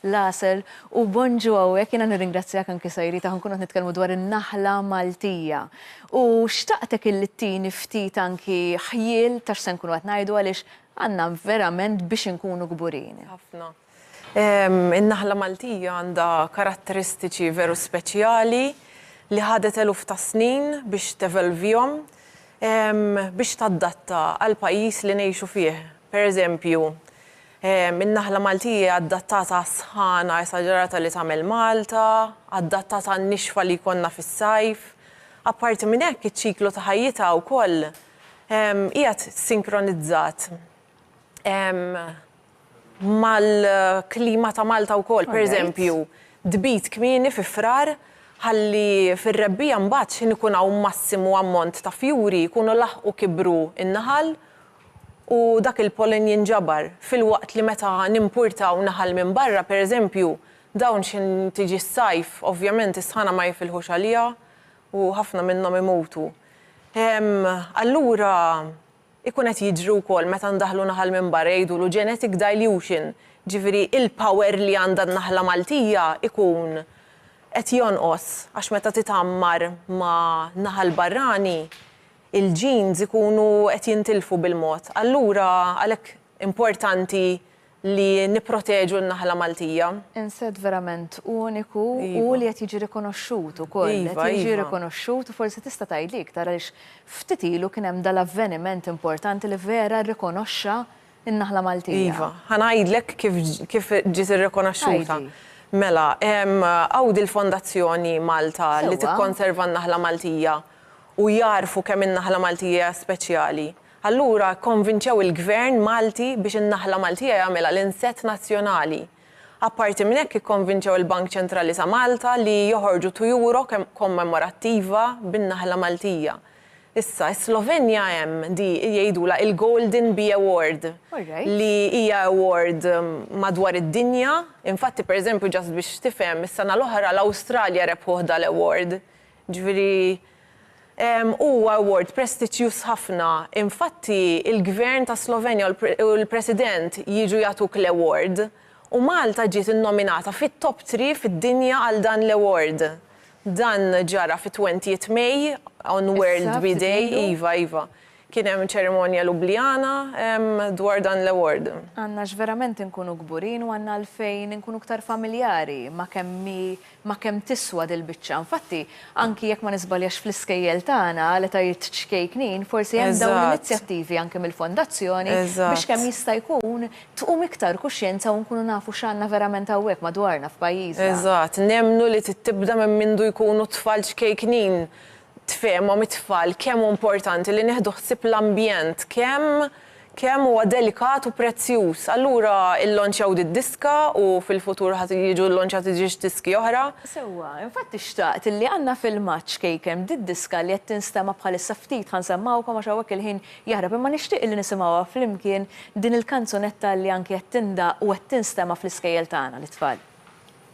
l-għasel u Bonġu hawnhekk jiena nirringrazzjak anki Sayrita ħa nkunu qed nitkellmu dwar in-naħla Maltija u xtaqtek illi ttini ftit anki ħjiel ta' x'se nkunu qed ngħidu għaliex għandna verament biex inkunu kburin. Ħafna. In-naħla Maltija għandha karatteristiċi veru speċjali li ħadet eluf ta' snin biex tevelvihom biex taddatta għall-pajjiż li ngħixu fih. Per eżempju, In-naħla Maltija hija adattata għas-sħana esaġerata li tagħmel Malta, adattata għan-nixfa li jkollna fis-sajf. Apparti minn hekk, iċ-ċiklu ta' ħajjitha wkoll qiegħed sinkronizzat mal-klima ta' Malta wkoll. Pereżempju, tbid kmieni fi Frar ħalli fir-rebbiegħa mbagħad x'ħin ikun hawn massimu ammont ta' fjuri jkunu laħqu kibru n-naħal u dak il-pollen jinġabar, filwaqt li meta nimpurtaw naħal minn barra, pereżempju, dawn xi tiġi s-sajf, ovvjament is-sħana ma jifilħux għaliha u ħafna minnhom imutu. Allura ikun qed jiġri wkoll meta ndaħħlu naħal minn barra jgħidulu genetic dilution, ġifieri il-power li għandha n-naħla Maltija jkun qed jonqos għax meta titgħammar ma' naħal barrani il-genes ikunu qed jintilfu bil-mod. Allura għalhekk importanti li nipproteġu n-naħla Maltija. Inset verament uniku u li qed jiġi rikonoxxut ukoll. Qed jiġi rikonoxxut u forsi tista' tgħidli iktar għaliex ftit ilu kien hemm dal-avveniment importanti li vera rrikonoxxa n-naħla Maltija. Iva, ħa ngħidlek kif kif ġiet irrikonoxxuta. Mela, hawn dil-Fondazzjoni Malta li tikkonserva n-naħla Maltija u jagħrfu kemm in-naħla Maltija hija speċjali, allura kkonvinċew il-Gvern Malti biex in-naħla Maltija jagħmilha l-insett nazzjonali. Apparti minn hekk ikkonvinċew il-Bank Ċentrali ta' Malta li joħorġu tujuro kommemorattiva bin-naħla Maltija. Issa, is-Slovenja hemm di jgħidulha il-Golden Bee Award li hija award madwar id-dinja, infatti pereżempju just biex tifhem is-sena l-oħra l-Awstralja rebħuh dal-award Jiġifieri huwa award prestiġjuż ħafna. Infatti, il-Gvern tas-Slovenja u l-President jiġu jagħtuk l-award, u Malta ġiet innominata fit-top three fid-dinja għal dan l-award. Dan ġara fit-twentieth May, on World Bee Day, iva, iva. Kien hemm ċerimonja Ljubljana dwar dan l-award. Għandna x'verament inkunu kburin u għandna għalfejn inkunu ktar familjari ma' kemm hi ma' kemm tiswa dil-biċċa. Infatti, anki jekk ma niżbaljax fl-iskejjel tagħna għal etajiet ċkejknin, forsi hemm dawn l-inizjattivi anki mill-Fondazzjoni biex kemm jista' jkun tqum iktar kuxjenza u nkunu nafu x'għandna verament hawnhekk madwarna f'pajjiżna. Eżatt. Nemmnu li trid tibda minn mindu jkunu t-tfal ċkejknin tfehmhom it-tfal kemm hu importanti li nieħdu ħsieb l-ambjent, kemm kemm huwa delikat u prezzjuż. Allura illonċjaw did-diska u fil-futur ħa jiġu llonċjati ġiex diski oħra. Sewwa, infatti xtaqt li għandna filmat xkejken b'did-diska li qed tinstema' bħalissa ftit ħa nsemmgħukom għax hawnhekk il-ħin jaħrab imma nixtieq illi nisimgħuha flimkien din il-kanzunetta li anki qed tindaqq u qed tinstema' fl-iskejjel tagħna lit-tfal.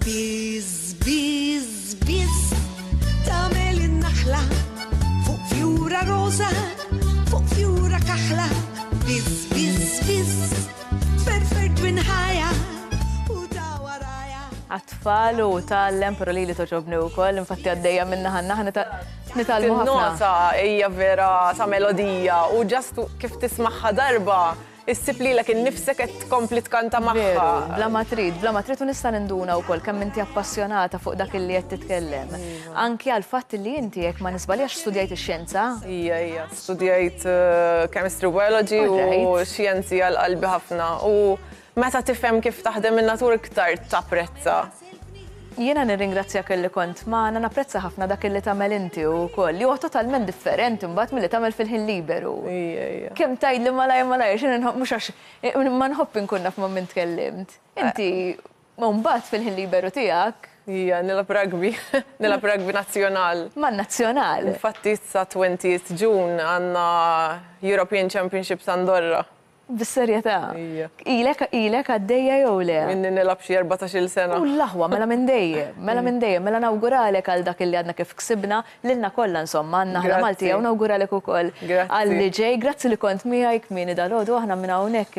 Biz, biz, biz, tamel in-naħla fuq fjura rosa, fuq fjura kaħla. Biz, biz, biz, ferfer twin ħajja u ta' waraja. Għatfall u tal-lem, pero li li toġobni u koll, infatti għaddeja minna ħanna ħanna ta' nitalmu ħafna. Nota hija vera sa' melodija u ġastu kif tismaħħa darba Issib lilek innifsek qed tkompli tkanta magħha. Bla ma trid, bla ma trid u nista' ninduna wkoll kemm inti appassjonata fuq dak li qed titkellem. Anki għal fatt li inti jekk ma nisbaljax studjajt ix-xjenza. Ija, ija, studjajt eh, chemistry biology u xjenzi għal qalbi ħafna. U meta tifhem kif taħdem in-natur iktar tapprezza. Jiena nirringrazzjak illi kont magħna, napprezza ħafna dak illi tagħmel inti u wkoll, li huwa totalment differenti mbagħad milli tagħmel fil-ħin liberu. Kemm tgħidli malajr malajr, x'inhi nħobb mhux għax ma nħobb inkun naf ma' min tkellimt. Inti mbagħad fil-ħin liberu tiegħek. Ija, nilgħab rugby, nilgħab rugby nazzjonal. Man-nazzjonal? Infatti sa 20th June għandna European Championships Andorra. Bis-serjetà. Ija. Ilek ilek għaddejja jew le? Minni nilgħab xi erbatax-il sena. U l-aħwa, mela minn dejjem, mela minn dejjem. Mela nawguralek għal dak li għadna kif ksibna, lilna kollha insomma, għandna aħna Malti hawn, nawguralek ukoll għal li ġej. Grazzi li kont miegħi kmieni dalgħodu, aħna minn hawnhekk.